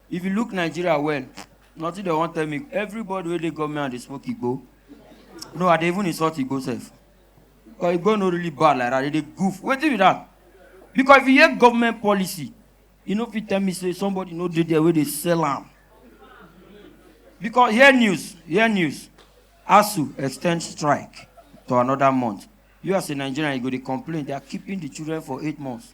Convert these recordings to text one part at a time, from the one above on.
If you look Nigeria well, nothing they won't tell me. Everybody where they come here and they smoke Igbo. No, I dey even insult Igbo self. Because Igbo no really bad like that. They dey goof. What do you that? Because if you hear government policy, you know if you tell me say somebody no dey there where they sell am. Because hear news, hear news. ASU extend strike to another month. You as a Nigerian, you go dey complain. They are keeping the children for eight months.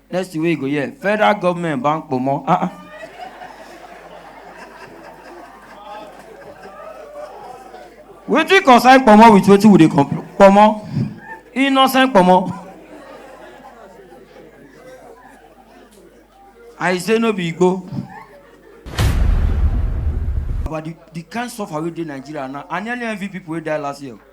next thing wey you go hear federal government ban kpomo ah ah. wetin concern kpomo with wetin we dey complain kpomo innocent kpomo. i say no be igbo but the the kind suffer wey dey nigeria now i nearly envy people wey die last year.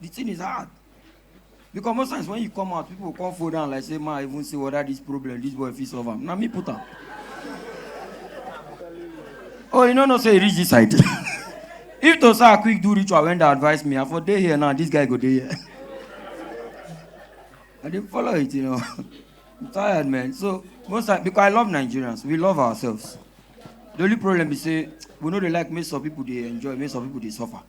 the thing is hard because most times when you come out people come fall down like say ma i even say whether this problem this boy fit solve am na me put am oh you no know say e reach this side if to say i quick do ritual when dey advise me i for dey here now this guy go dey here i dey follow it you know i'm tired man so most times because i love nigerians we love ourselves the only problem be say we no dey like make some people dey enjoy make some people dey suffer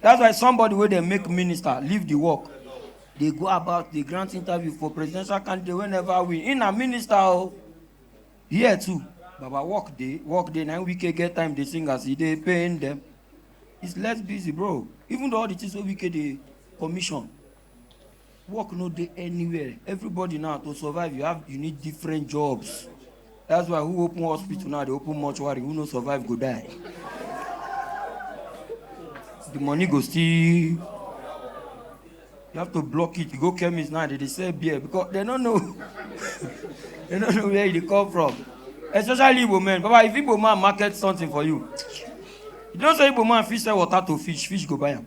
That's why somebody wey dey make minister leave the work dey go about dey grant interview for presidential candidate wey never win. He na minister o. Here too, Baba work dey, work dey. Na him Wike get time dey sing as he dey pain them. He's less busy bro. Even though all the things wey Wike dey commission, work no dey anywhere everybody now to survive you have you need different jobs that's why who open hospital now dey open mortuary who no survive go die the money go still you have to block it you go chemist now they dey sell beer because they no know they no know where e dey come from especially igbo men baba if igbo man market something for you you know say igbo man fit sell water to fish fish go buy am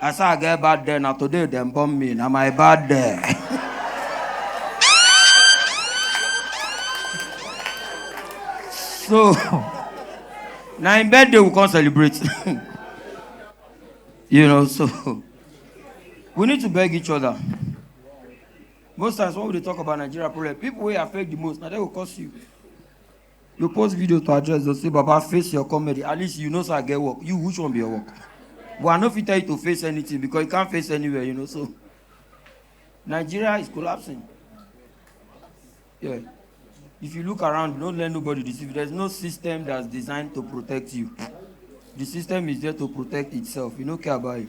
I say I get bad day, na today dem born me, na my bad day. so, na im birthday we come celebrate. you know, so we need to beg each other. Most times when we dey talk about Nigeria problem, people wey affect the most, na dem go cause you. you post video to address those say baba face your comedy at least you know say i get work you which one be your work but i no fit tell you to face anything because you can't face anywhere you know so nigeria is collapsing yeah if you look around don't let nobody deceive you there's no system that's designed to protect you the system is there to protect itself you no care about it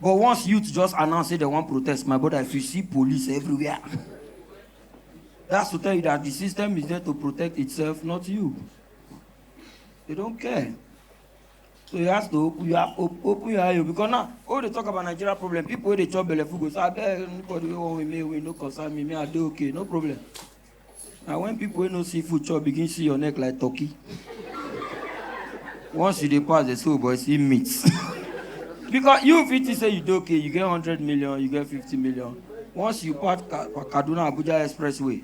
but once youth just announce say dem wan protest my brother if you see police everywhere that's to tell you that the system is there to protect itself not you they don't care so you have to open you have op open your eye o because now all dey talk about nigeria problem people wey dey chop belleful go say abeg anybody wey wan win me win no concern me me i dey okay no problem na when people wey no see food chop begin see your neck like turkey once you dey pass dey say oh boy see meat because you fit think say you dey okay you get hundred million you get fifty million once you pass Ka- kaduna abuja expressway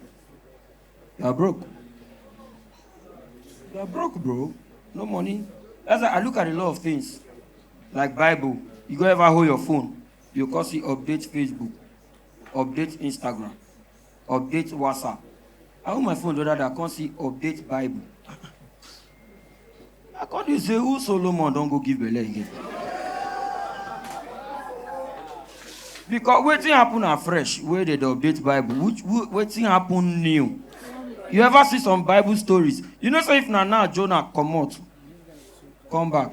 you are broke you are broke bro no money that's why i look at a lot of things like bible you go ever hold your phone you go come see update facebook update instagram update whatsapp i hold my phone the other day i come see update bible i come dey say who solomon don go give belle again because wetin happen na fresh wey dey dey update bible which wh- wetin happen new you ever see some bible stories you know say if na now jonah comot come back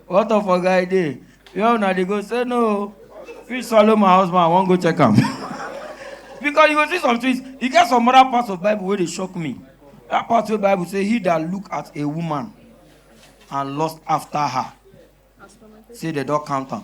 What of a guy there? Where una dey go? Say no. Fish swallow my husband, I wan go check am. because you go see some things, e get some other parts of Bible wey dey shock me. That part wey Bible say he that look at a woman and lust after her, say they don count am.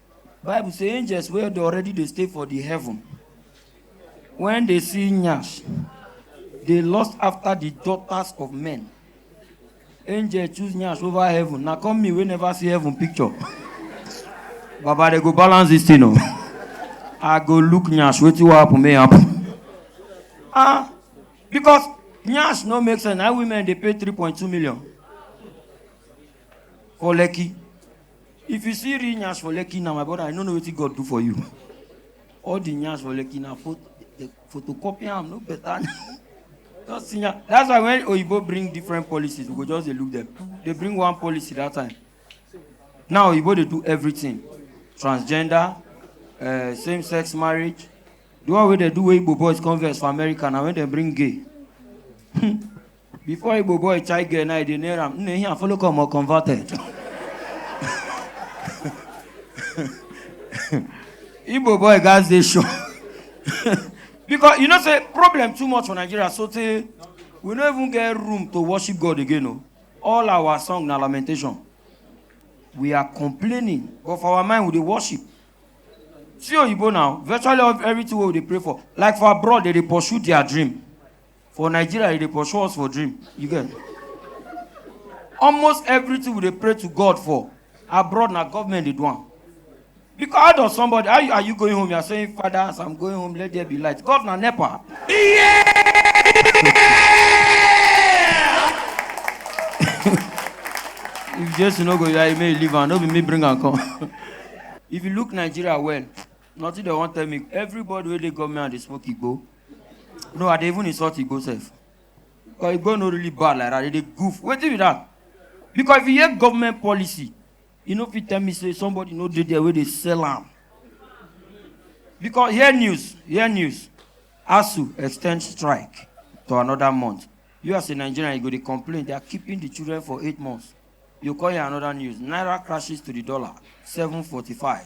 bible say angels wey dey already dey stay for the heaven when they see nyash they lust after the daughters of men angel choose nyash over heaven na come me wey never see heaven picture baba they go balance this thing o i go look nyash wetin wan happen may happen ah because nyash no make sense na women dey pay three point two million for lekki If you see real nyash for Lekki now, my brother, I no know wetin God do for you. All the nyash for Lekki na pho- the photocopy am no better. Just see nya- That's why when Oyibo bring different policies, we go just dey look them. They bring one policy that time. Now Oyibo dey do everything. Transgender, uh, same-sex marriage. The one wey dey do wey Igbo boys converse for America na when dem bring gay. Before Igbo boy chai girl now they near am. Nne here follow come or converted. Igbo boy guys they show. because you know say problem too much for Nigeria so say we no even get room to worship God again o. All our song na lamentation. We are complaining but for our mind we dey worship. See Oyibo now virtually everything wey we dey pray for like for abroad they dey pursue their dream. For Nigeria, e dey pursue us for dream. You get? Almost everything we dey pray to God for abroad na government dey do am. Because how does somebody how you, are you going home? You are saying, Father, as I'm going home, let there be light. God na nepa. If Jesu no go, you are may leave am. No be me bring am come. if you look Nigeria well, nothing dem wan tell me everybody wey dey government and dey smoke igbo no i dey even insult igbo sef because igbo no really bad like that they dey goof wetin be that because if you hear government policy you no fit tell me say somebody no dey there wey dey sell am because hear news hear news asu extend strike to another month you as a nigerian you go dey complain they are keeping the children for eight months you come hear another news naira crashes to the dollar seven forty-five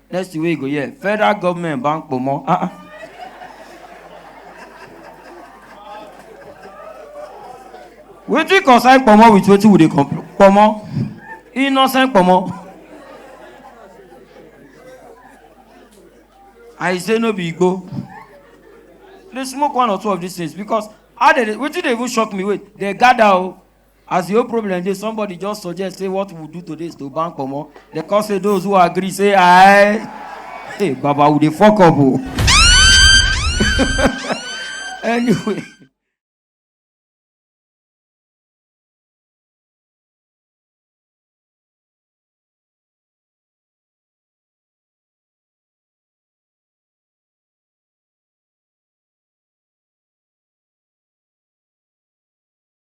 Next thing wey you go hear, federal government ban kpomo. Ah ah. Wetin concern kpomo with wetin we dey complain? Kpomo, innocent kpomo. I say no be igbo. Dey smoke one or two of these things because how dey dey wetin dey even shock me wait dey gather o As the whole problem dey, somebody just suggest say what we do today is to ban comot. They come say those who agree say aye. Hey, Baba, we dey fuck up o. anyway.